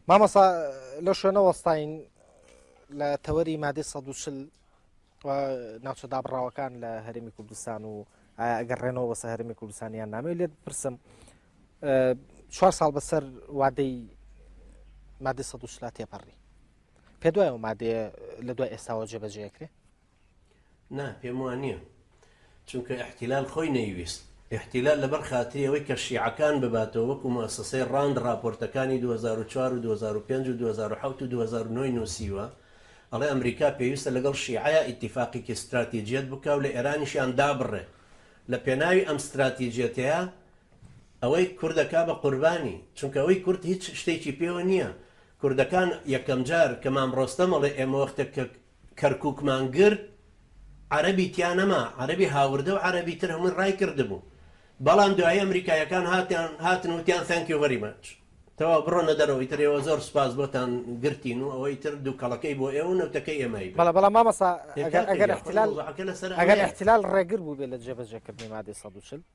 مامۆستا لەو شوێنە وەستاین لە تەوەری مادەی 140 ناوچە دابڕاوەکان لە هەرمی کوردستان و ئەگەر ڕێنەوە بەسە هەرمی کوردستانیان نامێ لێت پرسم چوار ساڵ بەسەر وادەی مادە 140 تێپەڕی پێ دوای و مادەیە لە دوای ئێستاوە جێبەجێکرێ نا پێم وانیە چونکە ئیحتیلال خۆی نەیویست ئیحتیلال لەبەر خاتری ئەوەی کە شیعەکان بباتەوە وەکو موسەسەی ڕاند ڕاپۆرتەکانی دوو هەزار و چوار و دوو هەزار و پێنج و دوو هەزار و حەوت و دوو هەزار و نۆ ی نوسیوە ئەڵێ ئەمریکا پێویستە لەگەڵ شیعەیا ئیتیفاقیکی ستراتیجیەت بکا و لە ئێرانیشیان دابڕێ لە پێناوی ئەم ستراتیجیەتەیە ئەوەی کوردەکا بە قوربانی چونکە ئەوەی کورد هیچ شتێکی پێوە نییە کوردەکان یەکەم جار کە مام ڕۆستەم ئەڵێ ئێمە وەختێک کە کەرکوکمان گرت عەرەبی تیا نەما عەرەبی هاوردە و عەرەبی تر هەمووی ڕای کردبوو بەڵام دوایی ئەمریکایەکان هاتیان هاتن وتیان thank you very much تەواو بڕۆنە دەرەوە ئیتر ئێوە زۆر سوپاس بۆتان گرتین و ئەوە ئیتر دووکەڵەکەی بۆ ئێوە و نەوتەکەی ئێمەی بێ بەڵێ بەڵام مامۆستا ئێ ئەگەر کاکە ئەگەر گیان خۆ احتلال موزەعەکە لەسەر ئەگەر ئەوەیە احتلال ڕێگر بوو بێ لە جێبەجێکردنی مادەی سەد و چل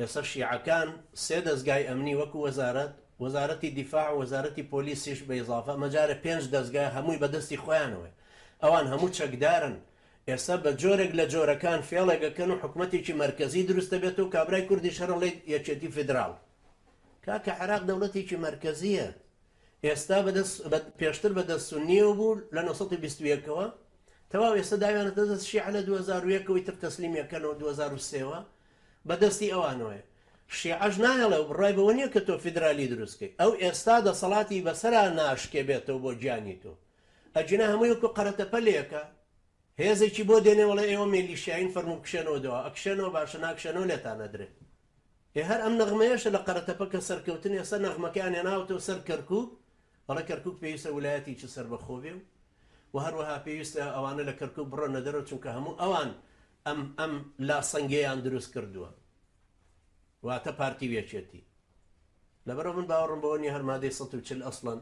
ئێستا شیعەکان سێ دەزگای ئەمنی وەکو وەزارەت، وەزارەتی دیفاع و وەزارەتی پۆلیسیش بە ئیزافە ئەمە جارێ پێنج دەزگا هەمووی بە دەستی خۆیانەوەیە. ئەوان هەموو چەکدارن. ئێستا بە جۆرێک لە جۆرەکان فێڵێک ئەکەن و حکومەتێکی مەرکەزی دروست ئەبێت و کابرای کوردیش هەر ئەڵێ یەکێتی فیدراڵ. کاکە عێراق دەوڵەتێکی مەرکەزییە. ئێستا بە دەست، پێشتر بە دەست سوننییەوە بوو لە نۆ سەد و بیست و یەک ەوە. تەواو ئێستا داویانەتە دەست شیعە لە دوو هەزار و یەک ەوە ئیتر تەسلیمی ئەکەنەوە دوو هەزار و سێ وە. بە دەستی ئەوانەوەیە. شیعەش نایەڵێ و بڕای بەوە نیە کە تۆ فیدرالی دروست کەی. ئەو ئێستا دەسەڵاتی بەسەرا ناشکێبێتەوە بۆ گیانی تۆ. ئەگینا هەمووی وەکو قەرەتەپەلێکە هێزێکی بۆ دێنێ وەڵێ ئێوە مێلیشیاین فەرموو بکشێنەوە دوا. ئەکشێنەوە باشە ناکشێنەوە لێتان ئەدرێ. ئێ هەر ئەم نەغمەیەشە لە قەرەتەپە کە سەرکەوتن ئێستا نەغمەکەیان هێناوەتەوە سەر کەرکوک. ئەڵێ کەرکوک پێویستە ولایەتێکی سەربەخۆ بێ و هەروەها پێویستە ئەوانە لە کەرکوک بڕەنە دەرەوە چونکە هەموو ئەوان ئەم ئەم لاسەنگەیان دروست کردووە واتە پارتی ویەکێتی لەبەرەوە من باوەڕم بەوە نیە هەر مادەی سەد و چل ئەسڵەن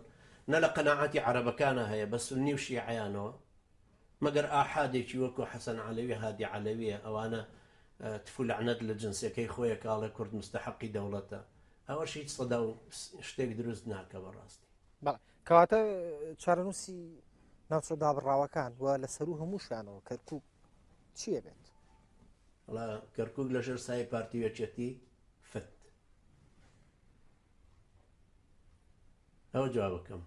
نە لە قەنەعاتی عەرەبەکانە هەیە بە سنی و شیعیانەوە مەگەر ئاحادێکی وەکو حەسەن عەلەوی هادی عەلەویە ئەوانە تفو لەعنەت لە جنسەکەی خۆیە کاڵێ کورد مستحقی دەوڵەتە ئەوەش هیچ سەدا و شتێک دروست ناکە بەڕاستی کەواتە چارەنووسی ناوچە دابڕاوەکان و لە سەرو هەمووشانەوە کەرکک چیە بێت. وەڵا کەرکوک لە ژێر سای پارتی و یەکێتی فت ئەوە جوابەکەم.